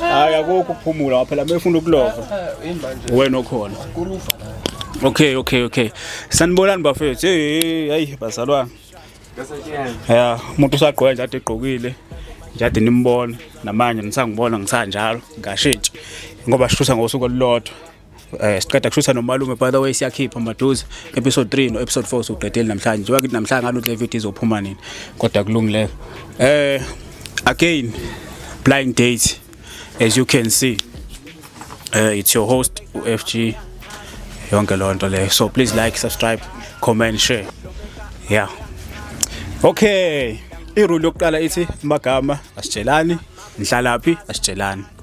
hayi akukho ukuphumula waphela mefuna ukulova wena okhona okay okay okay sanibonani bafethu hey hayi bazalwana ya umuntu usagqoka nje ade egqokile nje ade nimbona namanje nisangibona ngisanjalo ngashintshi ngoba shusa ngosuku olulodwa eh siqeda kushutha nomalume by the way siyakhipha maduze episode 3 no episode 4 soqedeli namhlanje njengoba kithi namhlanje ngalo le video izophuma nini kodwa kulungile eh again blind date as you can see uh, it's your host ufg yonke loo nto leyo so please like subscribe comment share yeah okay irule yokuqala ithi magama asitshelani nihlalaphi asitshelani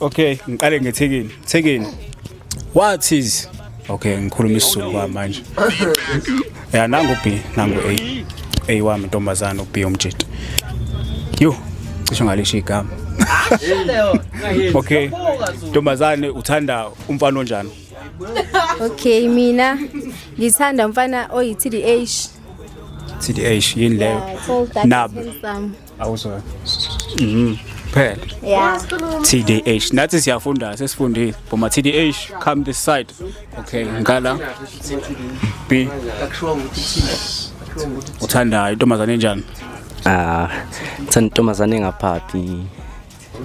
okay ngiqale ngethekeni thekeni what is okay ngikhuluma isizulu kwa manje ya nangu b nangu a a wami ntombazana u b umjita yo cisho ngalisho igama okay ntombazane uthanda umfana onjani okay mina ngithanda umfana oyi tdh tdh yini leyo nabo awuzwe mhm phela yeah tdh nathi siyafunda sesifundile boma tdh come this side okay ngala b uthanda intombazane enjani ah thanda intombazane engaphaphi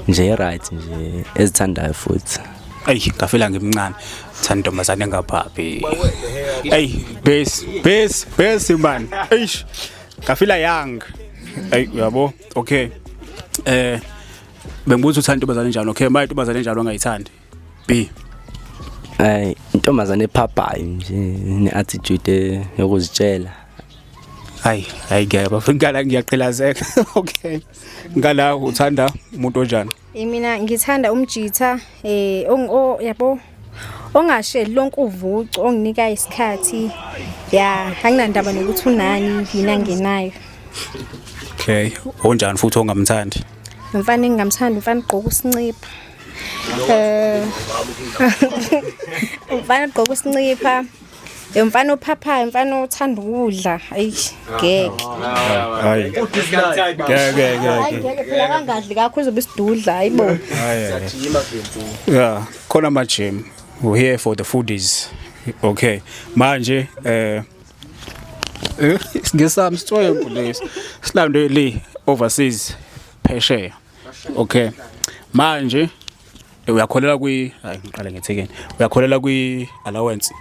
nje right nje ezithandayo futhi ayi ngafela ngimncane thanda intombazane engaphaphi ayi base base base man eish ngafila young ay uyabo okay eh bengibuza uthanda intombazane njalo okay manje intombazane njalo angayithandi b ay intombazane ephaphayo nje ne attitude yokuzitshela hayi hayi ngeke bafika ngiyaqilazeka okay ngala uthanda umuntu onjani mina ngithanda umjitha eh o yabo ongasheli lonke uvucu onginika isikhathi ya anginandaba nokuthi unani yina ngenayo okay onjani futhi ongamthandi mfana engingamthandi mfana igqoka usincipha eh mfana igqoka usincipha Yo mfana ophaphayo mfana othanda ukudla ayish ngeke hayi ngeke ngeke ngeke phela kangadli kakho uzobe isidudla hayibo yeah khona ama gym we here for the foodies okay manje eh eh ngesami sithoye kulesi silandwe le overseas phesheya okay manje uyakholela kwi hayi ngiqale ngethekeni uyakholela kwi allowance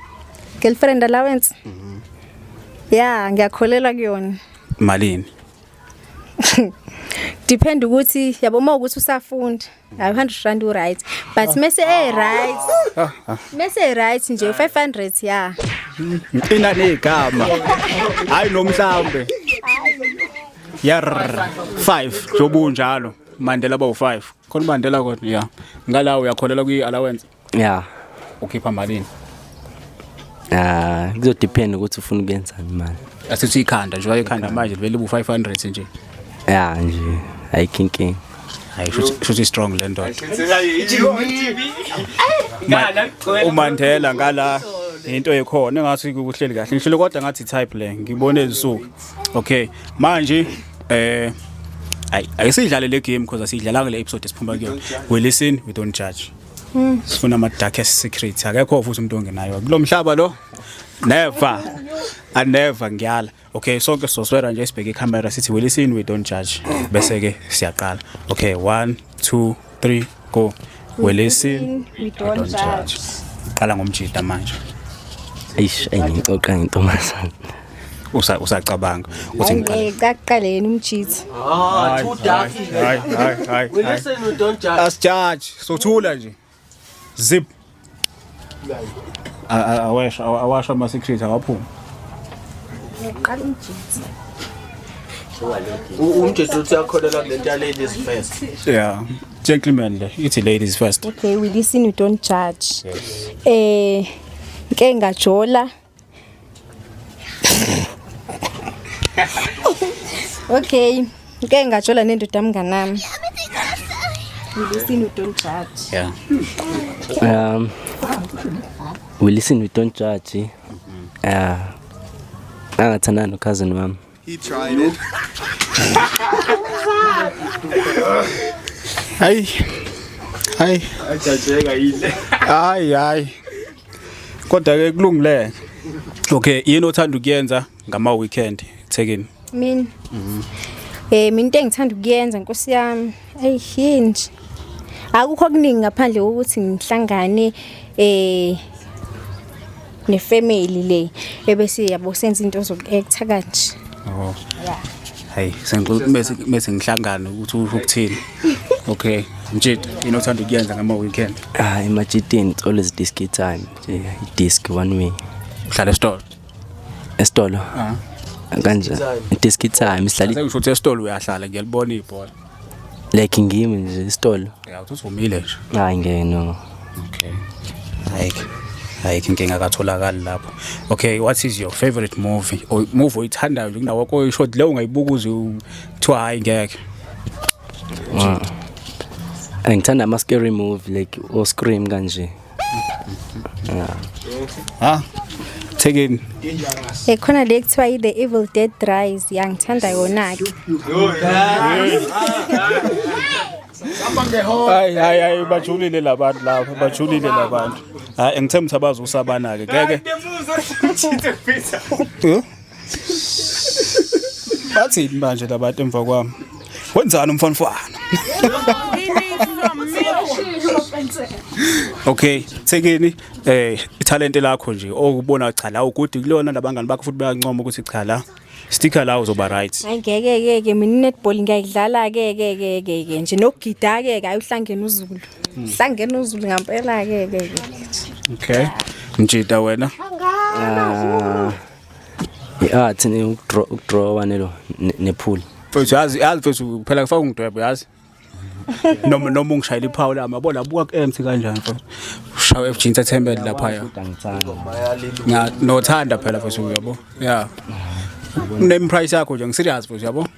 girlfriend allowance mhm yeah ngiyakholelwa kuyona malini depend ukuthi yabo uma ukuthi usafunda hayi 100 rand u right but ah. mese e right ah, ah. mese e right nje 500 yeah ina negama hayi nomhlambe yar 5 jobunjalo mandela bawu 5 khona ubandela kodwa ya ngala uyakholela kwi allowance ya ukhipha malini ah kuzo depend ukuthi ufuna ukuyenzani imali asithi ikhanda nje wayekhanda manje livele bu 500 nje ya nje ayikinking hayi shuthi strong le ndoda umandela ngala into ekhona engathi kuhleli kahle ngishilo kodwa ngathi type le ngibone izinsuku okay manje eh ayi ayisidlale le game because asidlala kule episode esiphuma kuyona we listen we don't judge hmm. sifuna ama darkest secrets akekho futhi umuntu ongenayo kulomhlaba lo never i never ngiyala okay sonke soswera nje sibheke i camera sithi we listen we don't judge bese ke siyaqala okay 1 2 3 go. We listen, we don't judge. Qala ngomjita manje. Eish, ayingixoxa ngentombazana. usa usacabanga uthi ngiqale kaqaleni umjitha ah too dark hayi hayi hayi we listen we don't judge us judge sothula nje zip awasha awasha ama secret awaphuma uqala umjitsi umjitsi uthi akholelwa kule nto ladies first yeah gentlemen le ithi ladies first okay we listen you don't judge eh nke ngajola okay ngeke ngajola nendoda mnganami we listen we don't judge yeah um we listen we don't judge yeah angathandana nokhazini wami He tried it. Ay. Ay. Ajajeka yile. Ay ay. Kodwa ke kulungile. Okay, yini othanda ukuyenza ngama weekend eThekwini? Mina. Mhm. Eh mina into engithanda ukuyenza Nkosi yami. Ey yini nje. Akukho kuningi ngaphandle kokuthi ngihlangane eh ne family le ebese yabo senza into zoku actor kanje oh yeah hayi sengicela mese mese ngihlangane ukuthi usho ukuthini okay mjita yini othanda ukuyenza ngama weekend ah emajitini it's always disc time nje disc one way uhlala esitolo esitolo ah kanje disc time sihlala usho ukuthi esitolo uyahlala ngiyalibona ibhola like ngimi nje isitolo ya uthi uvumile nje hayi ngeke no okay hayi hayi inkinga katholakali lapho okay what is your favorite movie or movie oyithandayo kunawo ko short leyo ungayibuka uze kuthiwa hayi ngeke ah. ngithanda ama scary movie like o scream kanje ha thekeni ekhona le kuthiwa i-the evil dead dries yangithanda yona-ke hayi hayi hayi bajulile labantu laba bajulile labantu hayi ngithemba ukuthi abazi usabana-ke ngeke bathini manje labantu emva kwami wenzani umfanfana okay thekeni eh ithalente lakho nje okubona cha la ugudi kulona labangani bakho futhi bayancoma ukuthi cha la sticker la uzoba right hayi ngeke ke ke mina netball ngiyayidlala ke ke ke ke ke nje nokugida ke ke ayuhlangene uzulu hmm. hlangene uzulu ngampela ke ke ke okay mjida wena ah. i-art ukudrawa nelo nephuli mfethu yazi yazi mfethu phela kufaka ungidwebo yazi noma noma ungishayela iphawu lami yabo labuka ku-emt kanjani mfethu ushawa efg entertainment laphaya nothanda phela mfethu uyabo ya name price yakho nje ngiserious mfethu yabo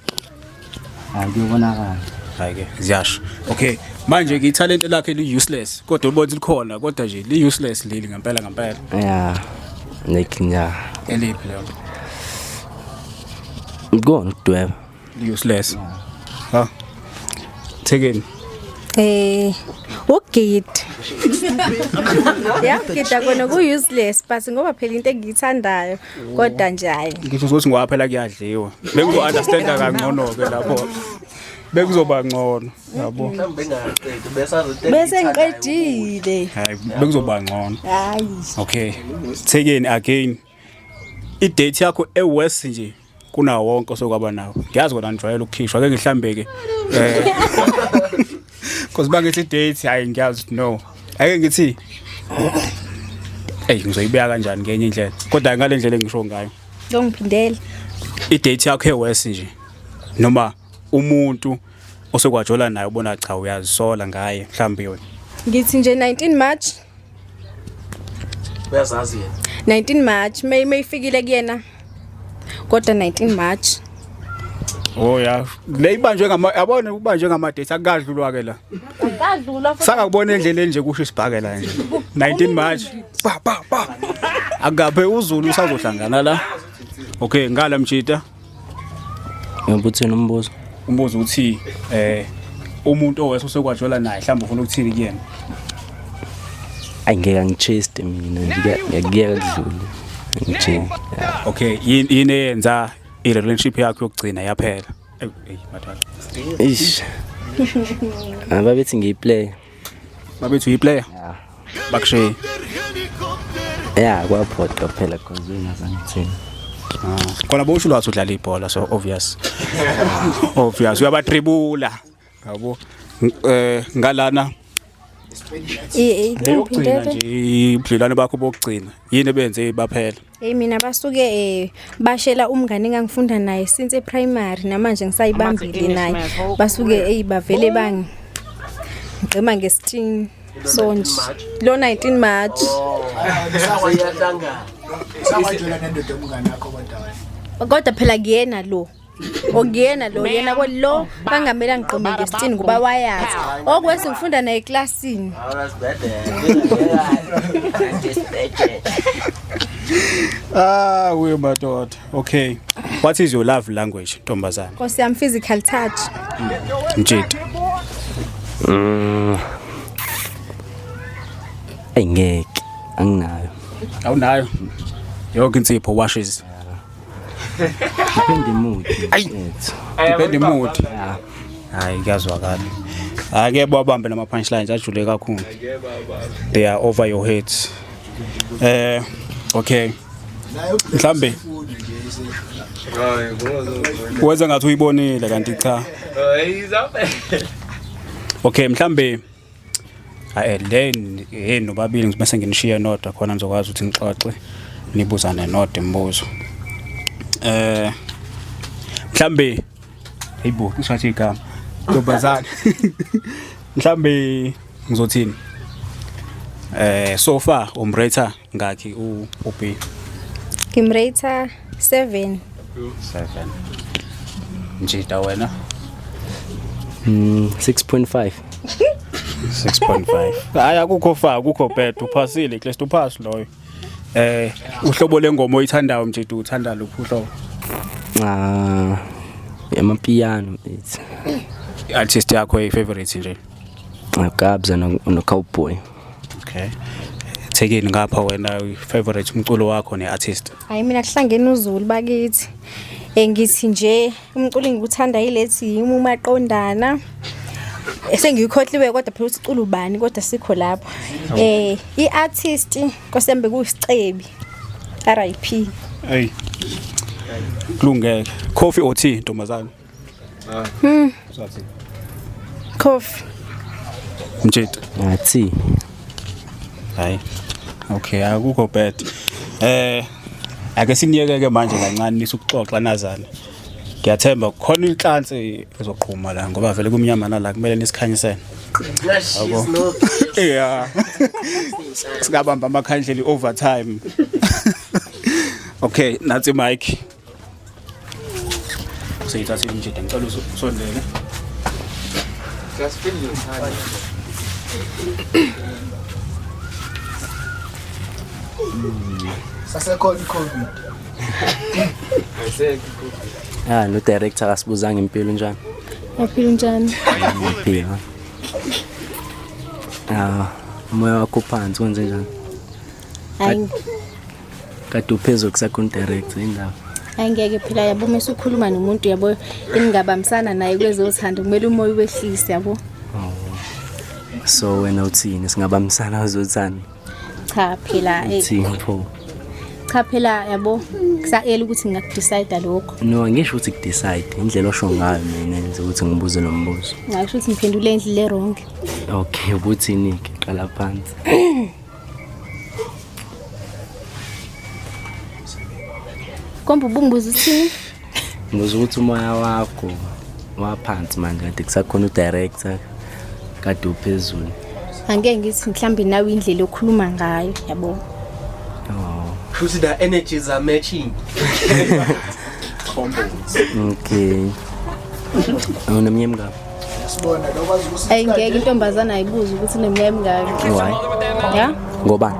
Akuyobonakala. Hayike ziyasho. Okay. Manje ke ithalente lakhe li useless kodwa ubona likhona kodwa nje li useless leli ngempela ngempela. Yeah. Nekinya. Eliphi lelo? Ngikona ukudweba. Li useless. Ha. Thekeni. Eh, ugid. Yagida kona ku useless but ngoba phela into engiyithandayo. kodwa nje hayi ngisho ukuthi ngoba phela kuyadliwa bengizo-understanda kangcono-ke lapho bekuzoba ngcono yabo mhlawumbe bengaqedi besazothe bese ngiqedile hayi bekuzoba ngcono hayi okay thekeni again idate yakho ewest nje kunawo wonke osokwaba nawo ngiyazi kona ngijwayele ukukhishwa ke ngihlambe ke eh cause bangithi date hayi ngiyazi no ake ngithi hey ngizoyibeka kanjani ngenye indlela kodwa ngale ndlela engisho ngayo ngiphindele i date yakho ewesi nje noma umuntu osokwajola naye ubona cha uyazisola ngaye mhlawumbe yona ngithi nje 19 March uyazazi yena 19 March may mayifikile kuyena kodwa 19 March Oh ya le ibanjwe ngama yabona ubanjwe ngama date akadlulwa ke la akadlulwa futhi sakakubona endleleni nje kusho isibhakela nje 19 March pa pa pa akabe uzulu usazohlangana la okay ngala mjita Ngoba uthini umbuzo? Umbuzo uthi eh umuntu owese usekwajola naye mhlawumbe ufuna ukuthini kuyena. Ayi ngeke angicheste mina ngiyakuyeka kudlule. Nje. Okay, yini yini eyenza i relationship yakho yokugcina yaphela? Eyi, mathanda. Ish. Ababethi ngiyiplay. babethu yiplayer yeah. bakushiye yeah kwaphoqa phela cause wena sangithini ah, khona bosho ulwathi udlala ibhola so obvious obvious uyabatribula yabo eh ngalana eyokugcina nje ubudlelwane bakho bokugcina yini ebenze baphela Hey mina basuke eh bashela umngane engangifunda naye since eprimary namanje ngisayibambile naye basuke hey bavele bangi ngigqima ngesitini sonje lo 19 March kodwa phela kuyena lo okuyena lo yena kwelo bangamele angiqome ngesitini ngoba wayazi okwesi ngifunda naye eklasini ah we madoda okay what is your love language ntombazana nkosi yami physical touch mjidi mm. engeke anginayo awunayo yonke insipho washes Depend the mood. Ayi. Yes. Depend the mood. Yeah. Hayi kuyazwakala. Ake bawabambe nama punchlines ajule kakhulu. They are over your heads. Eh okay. Mhlambe Wenza ngathi uyibonile kanti cha. Okay mhlambe Hayi then hey nobabili ngibe senginishiye nodwa khona nizokwazi ukuthi nixoxe nibuzane nodwa imibuzo. Eh mhlambe hayibo ngishathi igama ntombazane mhlambe ngizothini eh so far umrater ngakhi u u B ngimrater 7 7 njita wena mm 6.5 6.5 hayi akukho fa akukho bad uphasile klest uphasi loyo eh uhlobo lengoma oyithandayo mjita uthanda luphi uhlobo ah yamapiano it's artist yakho efavorite nje Gabs and a, and a cowboy. Okay. Thekeni ngapha wena favorite umculo wakho neartist. Hayi mina kuhlangene uZulu bakithi. Engithi nje umculo engikuthanda yilethi yimi umaqondana. Esengiyikhohliwe kodwa phela ukuthi ucula ubani kodwa sikho lapho. Eh iartist kosembe kusicebi. RIP. Hey. Kulungeke. Coffee or tea ntombazana? Hmm. Coffee. Mjita. Ngathi. Hayi. Okay, akukho bad. Eh ake siniyekeke manje kancane nisukuxoxa nazana. Ngiyathemba khona inhlansi ezoqhuma la ngoba vele kumnyama nala kumele nisikhanyisene. Yeah. Sikabamba amakhandlela overtime. Okay, nathi Mike. useyithathile umjida ngicela usondele sasekhona i-covid ya no-director akasibuzanga impilo njani yaphila njani phila ya umoya wakho uphansi kwenze njani hayi kade uphezu kusakho direct indaba ayingeke phela yabo uma usukhuluma nomuntu yabo eningabambisana naye kwezothando kumele umoya ubehlise yabo oh. so wena uthini singabambisana kwezothando cha phela eh. uthini pho cha phela yabo kusayela ukuthi ngingakudecide lokho no angisho ukuthi kudecide indlela osho ngayo mina nje ukuthi ngibuze lo mbuzo ngisho ukuthi ngiphendule indlela erong okay ubuthini ke qala phansi Komba ubungibuza uthini? Ngibuza ukuthi umoya wakho waphansi manje kade kusakhona udirector kade uphezulu. Angeke ngithi mhlambe nawe indlela okhuluma ngayo yabo. Oh. Futhi the energies are matching. Okay. Unomnyemka. Ayi ngeke intombazana ayibuze ukuthi neminyaka emingaki. Why? Ya? Ngoba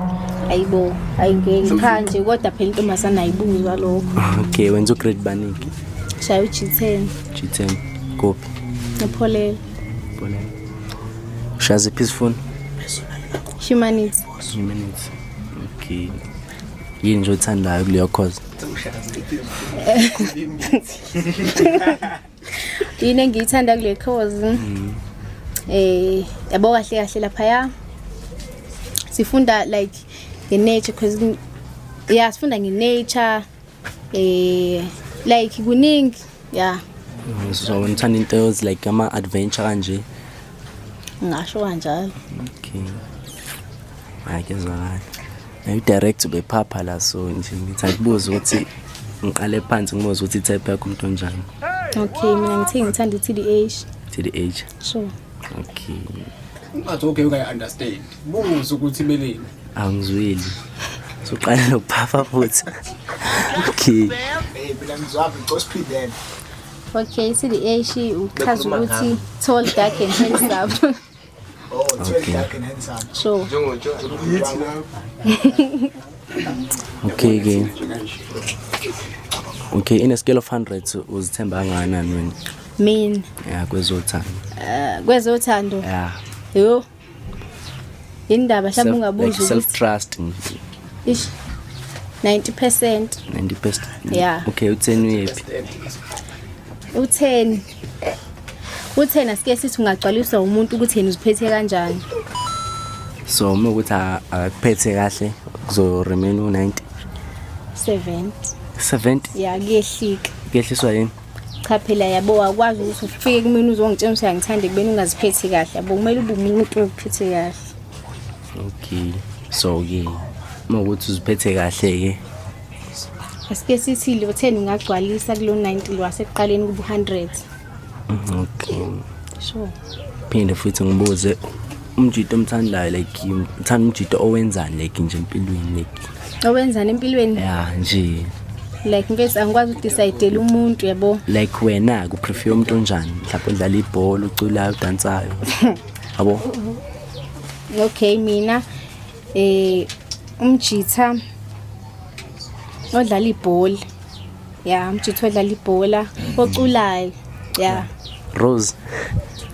ayibo ayi ngeke cha nje kodwa phela intombazana ayibuzwa lokho. Okay, wenza ugrade baningi. Shaya uG10. G10. Kuphi? Epholele. Epholele. Ushaya ziphi izifuni? Humanities. Humanities. Okay. Yini nje othandayo kuleyo course? yini engiyithanda kule course mm. eh yabo kahle kahle lapha ya sifunda like the nature because yeah sifunda nge nature eh like kuningi yeah mm, so ngithanda into is like ama adventure kanje ngasho kanjalo okay ayike zwakala Nayo direct ubephapha la so nje ngithi angibuze ukuthi ngiqale phansi ngibuze ukuthi type yakho umuntu onjani. Okay, mina ngithe ngithanda i-TDH. TDH. Sure. Okay. Ungathi okay ukayi understand. Buze ukuthi beleni. Angizwile. Soqala nokuphapha futhi. Okay. Hey, mina ngizwaphi ngcosphilela. Okay, i-TDH uchaza ukuthi tall, dark and handsome. Sure. okay ke okay in a scale of 100 uzithemba kangakanani wena mina ya kwezothando eh, kwezothando ya yo indaba mhlawumbe ungabuza self trust ish 90% 90% yeah okay utheni uyephi utheni Kuthena sike sithi ungagcwaliswa umuntu ukuthi yena uziphethe kanjani. So uma ukuthi a- akakuphethe kahle kuzo remain u 90 70. 70 Ya kuyehlika. kuyehliswa yini? Cha phela yabo wakwazi ukuthi ufike kumina uzongitshela ukuthi angithande kubeni ungaziphethi kahle. Yabo kumele ube umuntu ophethe kahle. Okay. So ke uma ukuthi uziphethe kahle ke Asike sithi lo 10 ungagcwalisa kulo 90 lo wasekuqaleni kubu 100. Okay. Sure. Phinde futhi ngibuze umjito omthandayo like ngithanda umjito owenzani like nje empilweni like. Owenzani empilweni? Yeah nje. like mfethu angikwazi ukudecide umuntu yabo like wena ku prefer umuntu onjani mhlawumbe udlala ibhola uculayo udansayo yabo okay mina eh umjitha odlala ibhola ya umjitha odlala ibhola oculayo ya Rose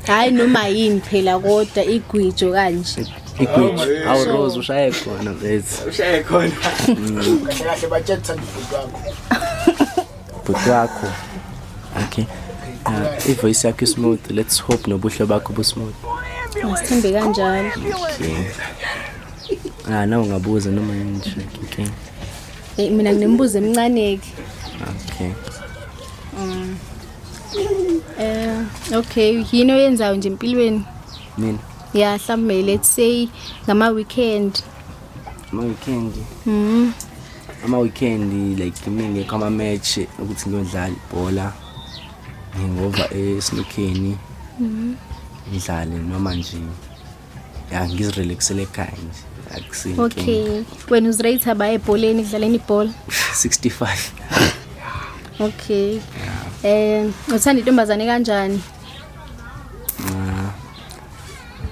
hayi noma yini phela kodwa igwijo kanje igwijo awu Rose ushaye khona vezi ushaye khona mm. kahle batshela ukuthi uthandwa wakho bhuti wakho okay uh, ivoice yakho ismooth let's hope nobuhle bakho busmooth ngisithembe kanjalo okay ah nawe ungabuza noma yini okay eh mina nginembuzo emncane-ke okay um eh okay yini oyenzayo nje empilweni mina ya mhlawumbe let's say ngama-weekend ama weekend mm. ama weekend like mina ngekho ama match ukuthi ngiyodlala ibhola ngingova esnokheni mm. ngidlale noma nje ya ngizirelaxele ekhaya nje akusinto okay wena uzirate ba ebholeni kudlaleni ibhola 65 okay eh uthanda intombazane kanjani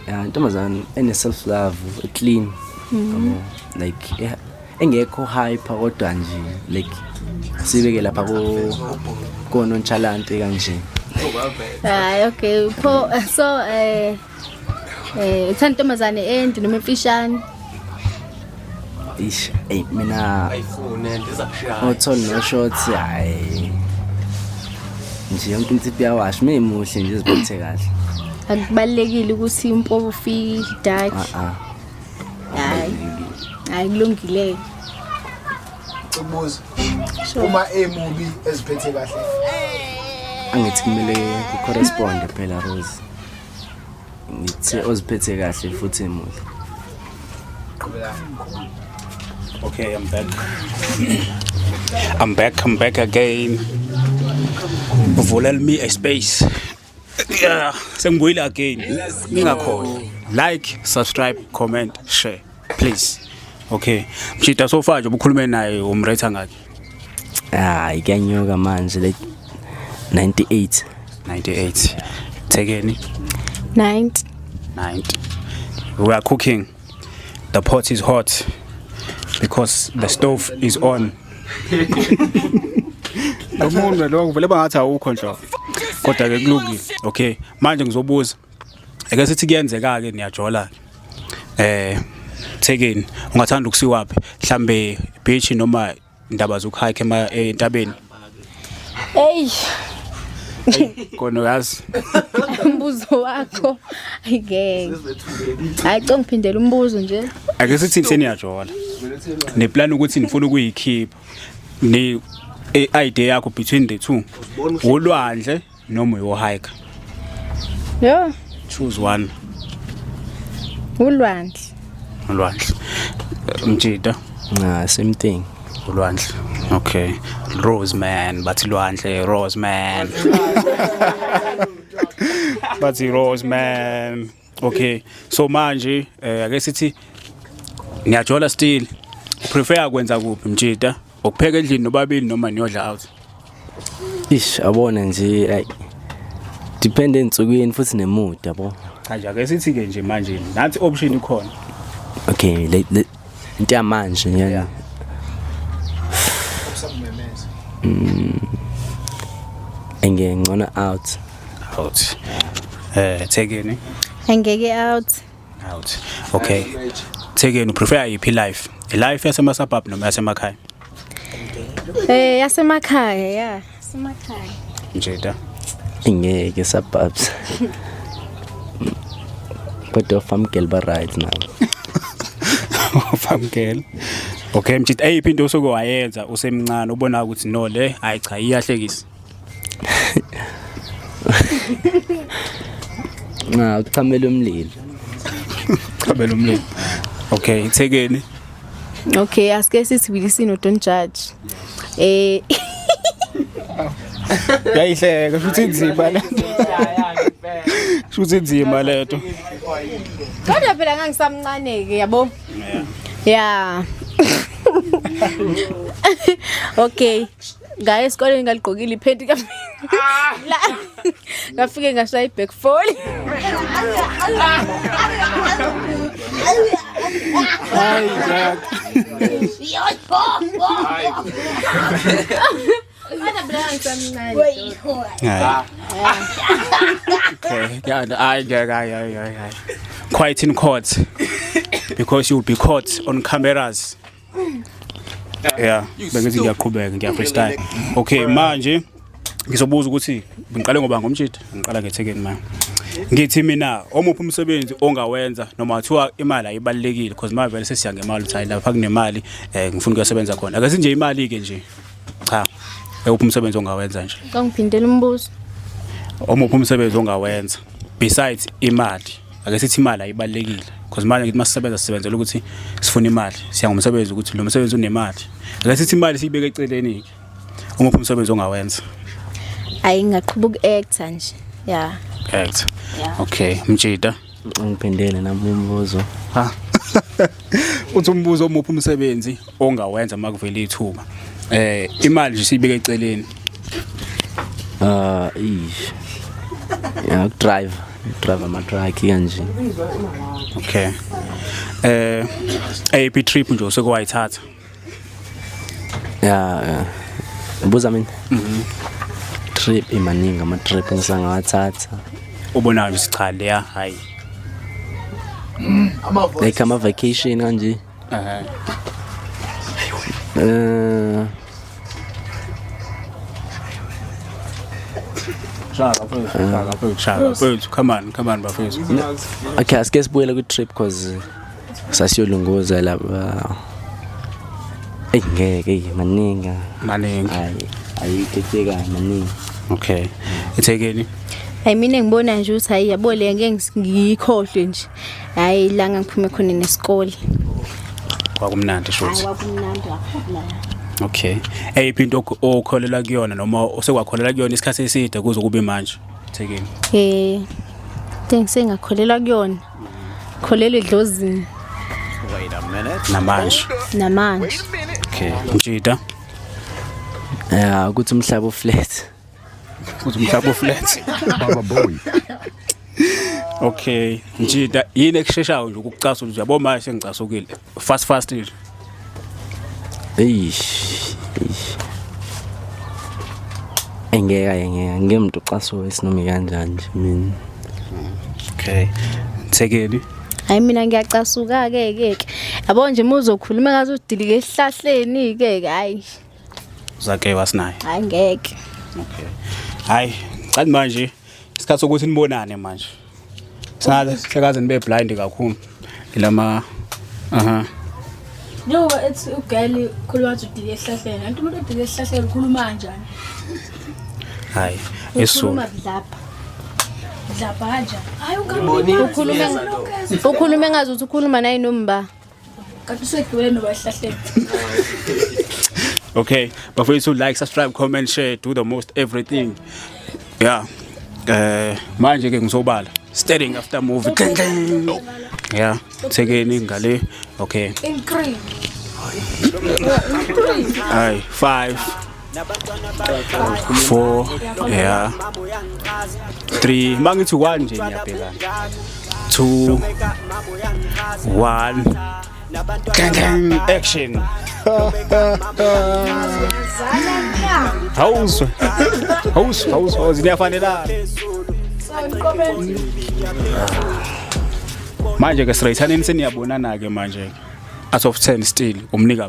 ya intombazane ene self love clean yabo like eh, engekho hyper kodwa nje like sibeke lapha ko kononchalante kanje hayi okay pho so eh eh uthanda intombazane ende noma emfishane ish eyi mina ayifune ndiza kushaya othol no shots hayi nje yonke into ipiyawasha uma imuhle nje iziphethe kahle akubalulekile ukuthi impobo ufike dark ah hayi hayi kulungile ubuzo uma emubi eziphethe kahle angithi kumele ku-corresponde phela rose ngithe oziphethe kahle futhi emuhle okay i'm back i'm back i'm back again uvulel me a space yeah sengibuyile again ningakhona like subscribe comment share please okay mshita so far nje ubukhulume naye umretha ngakhe hayi kuyanyuka manje le 98 98 thekeni 90 90 we are cooking the pot is hot because the stove is on Lomuntu lo ngivele bangathi awukho nhlo. Kodwa ke kulungile. Okay. Manje ngizobuza eke sithi kuyenzeka ke niyajola eh thekeni ungathanda ukusiwaphi mhlambe beach noma indaba zokuhike ema eh, entabeni hey kona uyazi umbuzo wakho ayike hayi cong phindela umbuzo nje ake sithi seniyajola ne plan ukuthi nifuna ukuyikhipha ni eh, idea yakho between the two ulwandle noma uyohayika yho choose one ulwandle ulwandle mjita nah same thing ulwandle okay rose man bathi lwandle rose man bathi rose man Okay. So manje eh ake sithi ngiyajola still. Prefer kwenza kuphi mjita? Ukupheka endlini nobabili noma niyodla out? Ish abone nje like depend ensukwini futhi nemood yabo. Cha nje ake sithi ke nje manje nathi option ikhona. Okay, let, let, into yamanje yani yeah. mm, engeke ngcona out out eh uh, thekeni engeke out out okay thekeni prefer iphi life life yasema suburb noma yasemakhaya Eh yasemakhaya ya, semakhaya. Njeda. Ingeke sababs. Kodwa farm girl ba right now. farm girl. Okay mjita eyiphi into osoke wayenza usemncane ubona ukuthi no le hayi cha iyahlekisa. Nca uchamela umlilo. Uchamela umlilo. Okay, ithekeni. Okay, asike sithi bilisino don't judge. Eh Yayihleka futhi inzima lento. Futhi inzima lento. Kodwa phela ngangisamncane ke yabo. Yeah. okay. ngaye esikoleni ngaligqokile iphenti ka ah! la ngafike ngashaya iback fall hayi jack Quiet in court because you'll be caught on cameras. yeah bengithi ngiyaqhubeka ngiya freestyle okay manje ngizobuza ukuthi ngiqale ngoba ngomtshitha ngiqala ngethekeni manje ngithi mina omuphi umsebenzi ongawenza noma kuthiwa imali ayibalekile because manje vele sesiya ngemali uthi lapha kunemali eh ngifuna ukuyosebenza khona ake sinje imali ke nje cha ewuphi umsebenzi ongawenza nje kangiphindela umbuzo omuphi umsebenzi ongawenza besides imali ake sithi imali ayibalekile because imali ngithi masisebenza sisebenzela ukuthi sifuna imali siya ngomsebenzi ukuthi lo msebenzi unemali ake sithi imali siyibeke eceleni ke uma uphi umsebenzi ongawenza ayi ngaqhuba uku-actor nje ya actor okay mjida ngiphendele nami umbuzo ha uthi umbuzo omuphi umsebenzi ongawenza uma kuvela ithuba eh imali nje siyibeke eceleni ah ish ya drive drive ama truck kanje okay eh AP trip nje usekwayithatha ya ya buza mina mhm trip imaningi ama trip ngisangawathatha ubonayo sichale ya hayi like ama vacation kanje Ee, Shaka bafethu, shaka bafethu, shaka bafethu. Come on, come on bafethu. okay asike sibuyele kwi-trip because sasiyolunguza laba eyi ngeke eyi maningi Maningi. ayi ayikekeka maningi Okay. Ithekeni. hayi mina ngibona nje ukuthi hayi yabo le ngeke ngis- ngiyikhohlwe nje hayi la ngangiphume khona nesikole kwakumnandi shuthi kwakumnandi kakhulu okay eyiphi into okholelwa kuyona noma osekwakholelwa kuyona isikhathi eside kuze kube manje thekeni eh ngengsengakhwelelwa kuyona kholelwa edlozini namanje namanje okay mjida eh ukuthi umhlaba uflat Uze umhlaba oflat. Baba boy. Okay, njida yini ekusheshayo nje ukucasula nje yabo manje sengicasukile. Fast fast nje. Eish. eish. Engeka engeka ngemntu xaso esinomi kanjani nje mina. Okay. Thekeli. hayi mina ngiyacasuka-ke ke ke yabo nje uma uzokhuluma ngathi udilike esihlahleni-ke ke hayi Zake wasinaye. Hayi ngeke. Okay. Hayi, qani manje isikhathi sokuthi nibonane manje. Sale sekaze nibe blind kakhulu. Ilama aha. No, it's ugirl khuluma nje udile ehlahleni. Anti umuntu odile ehlahleni ukhuluma kanjani? Hayi, esu. Ukhuluma lapha. Lapha kanjani? Hayi ukhuluma. Ukhuluma ngazi ukuthi ukhuluma naye nomba. okay bafethu like subscribe comment share do the most everything yeah eh manje ke ngizobala staring after movie ding ding yeah thekeni ngale okay increase ay 5 four ya three uma ngithi one nje ngiyabhekana two one action hawuzwe hawuzwe hawuzwe niyafanelana manje ke straight haneni seniyabonana ke manje out of 10 still umnika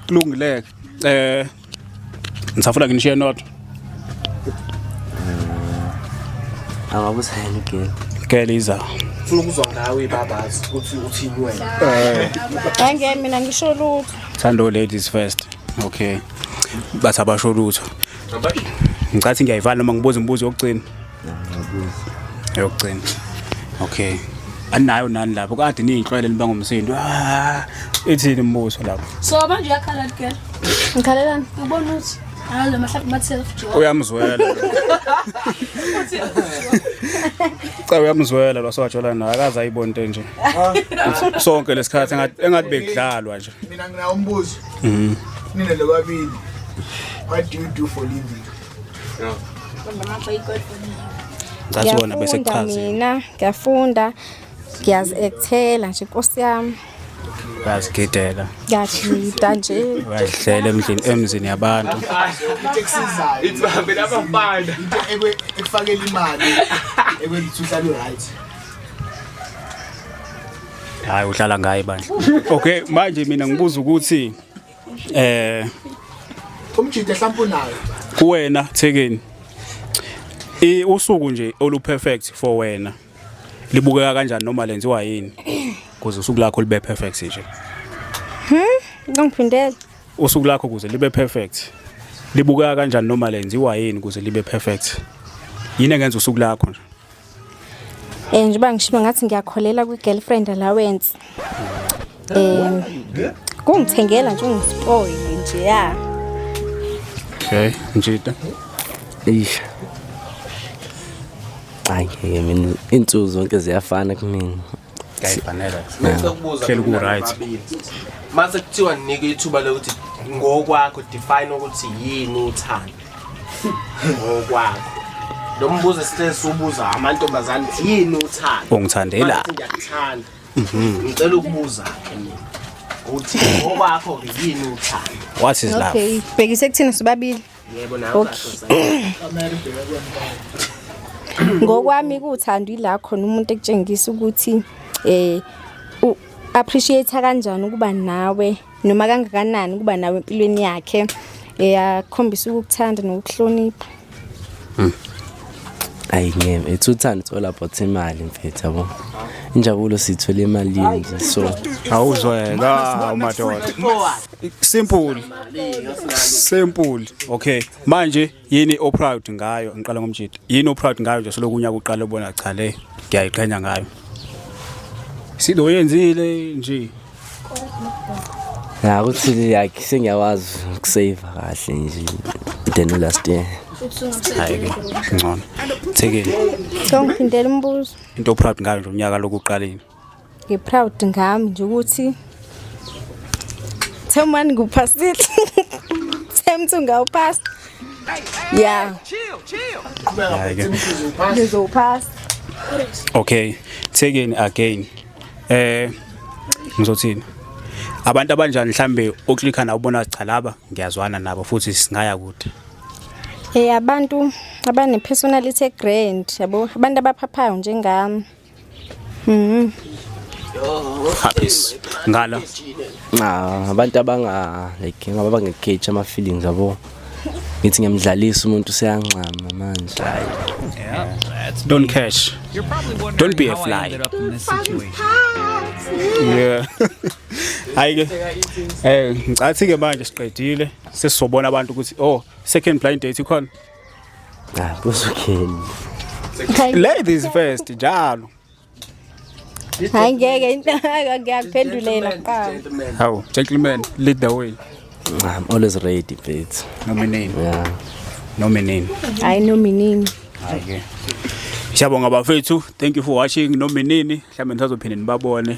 kulungileke eh ngisafuna nginishiye nodwa angabusayela igeli igeli iza funa ukuzwa ngawe babazi ukuthi uthini wena angeke mina ngisho lutho thando ladies first okay bathi abasho lutho ngicathi ngiyayivala noma ngibuza umbuzo yokugcina yokugcina okay anayo nani lapho kade niyinhlwele niba ngomsindo ah, ithini imibuso lapho so manje uyakhala ke ngikhalelani ubona ukuthi Alo mahlaphi ma self job. Uyamzwela. Cha uyamzwela lo sowajola naye akaze ayibone into enje. Ah. Sonke lesikhathi engathi engathi bekudlalwa nje. Mina ngina umbuzo. Mhm. Nina lo babili. What do you do for living? ngathi wona bese kuchaziwe mina ngiyafunda ngiyazi ekuthela nje inkosi yami bayazigidela ngiyajida nje bayadlela emndlini emzini yabantu into ekusizayo ithi bahambe labafana into ekufakela imali ekwenza ukuthi uhlale right hayi uhlala ngaye bandla okay manje mina ngibuza ukuthi eh umjide mhlawumbe unayo kuwena thekeni i usuku nje olu perfect for wena libukeka kanjani noma lenziwa yini kuze usuku lakho libe perfect nje hmm ngiphindela usuku lakho kuze libe perfect libukeka kanjani noma lenziwa yini kuze libe perfect yini engenza usuku lakho nje Eh njengoba ngishibe ngathi ngiyakholela kwi girlfriend allowance. Eh kungithengela nje ungispoil nje ya. Okay, njita. Eish. Ay, mina insuku zonke ziyafana kumina. hleli ku-right mase kuthiwa ninike ithuba lokuthi ngokwakho define ukuthi yini uthando ngokwakho lo mbuzo esihleli siwubuza amantombazane ukuthi yini uthando ungithandela ngiyakuthanda mhm. ngicela ukubuza ke mina ukuthi ngokwakho-ke yini uthando what is love okay bhekise kuthina sobabili Yebo nawe Okay. ngokwami kuthando ila khona umuntu ekutshengisa ukuthi eh u appreciate kanjani ukuba nawe noma kangakanani ukuba nawe empilweni yakhe eyakhombisa ukukuthanda nokuhlonipha ayi ngeke it's uthando it's all about imali mfethu yabo injabulo sithola emalini nje so awuzoyeka umadoda Simple. Simple. Okay. Manje yini o proud ngayo? Ngiqala ngomjita. Yini o proud ngayo nje selokunya kuqala ubona cha le ngiyayiqhenya ngayo. Sido yenzile nje. Ya ukuthi yakhe sengiyawazi ukusave kahle nje than last year. Hayi ke ngcono. Thekile. Ngithanda uphindela umbuzo. Into o proud ngayo nje unyaka lokuqaleni. Ngiproud ngami nje ukuthi Themani ngikuphasile. Themthi ungawuphasa. Yeah. Chill, chill. Ngizowuphasa. Okay, taken again. Eh ngizothini? Abantu abanjani mhlambe uklikha na ubona cha laba ngiyazwana nabo futhi singaya kude. Eh abantu abane personality grand yabo abantu abaphaphayo njengami. Mhm. Happis. Ngala. Ah, abantu abanga like ngaba bangekhethi ama feelings yabo. Ngithi ngiyamdlalisa umuntu seyanxama manje. Hayi. Don't cash. Don't be a fly. Yeah. Hayi ke. Eh, ngicathi ke manje siqedile. Sesizobona abantu ukuthi oh, second blind date ikhona. Ah, busukheni. Ladies first njalo. Hayi ngeke into ngiyakuphendulela kuqala. Hawu, gentlemen, lead the way. I'm always ready, babe. Nominini. Yeah. Nominini. Hayi nominini. Okay. Siyabonga bafethu. Thank you for watching nominini. Mhlawumbe nisazophinde nibabone.